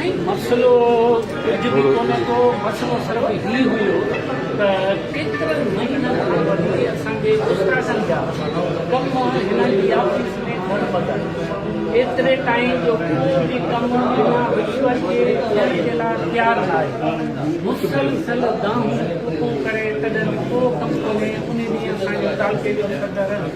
سائين مسئلو ڪجهه به ڪونه ڪو مسئلو صرف هي هيو ته ڪيترن مهينن کان وٺي اسان جي استادن جا ڪم هنن جي آفيس ۾ گهر ٻڌل ايتري تائين جو ڪو به ڪم بنا رشوت جي ٿيڻ جي لاء تيار ناهي مسلسل دانهون ڪوڪون ڪري تڏهن به ڪو ڪم ڪونهي انهي ڏينهن اسان جي تعلقي جو صدر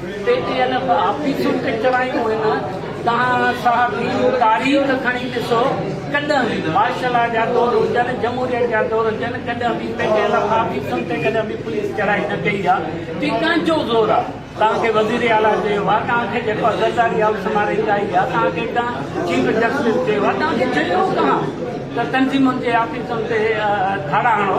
پي ٽي ايل ايف آفيسون ڪچرايون هن تهان صاحب جي تاريخ کڻي ڏسو ڪڏهن به مارشلا جا دور هجن جمهوريت جا دور هجن ڪڏهن به پي ٽي ايل ايف آفيسن تي ڪڏهن به پوليس چڙهائي نه ڪئي آ تي ڪنهن جو زور آ تهان کي وزير اعليٰ چيو آ تهان کي جيڪو آ زرداري هائوس مان ريٽائي آ تهان کي ڪنهن چيف جسٽس چيو آ تهان کي چيو ڪهان ته تنظيمن جي آفيسن تي ڌاڙا هڻو.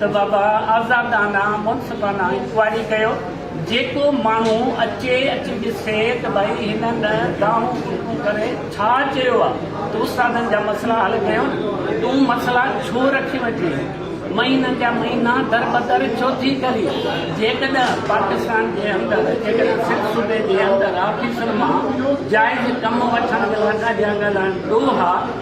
ته بابا آزادانه منصفانه انڪوائري ڪيو جيڪو ماڻهو اچي اچي ڏسي ته ڀائي هنن گاهون گهونٽون ڪري ڇا چيو آ ته استادن جا مسئلا حل ڪيو نه تون مسئلا ڇو رکي ويٺي آهين مهينن جا مهينا دربدر ڇو ٿي ڪرين جيڪڏهن پاڪستان جي اندر جيڪڏهن سنڌ صوبي جي اندر آفيسر مان جائز ڪم وٺڻ لاء ڳاڙهيا ڳالهائڻ ڏوها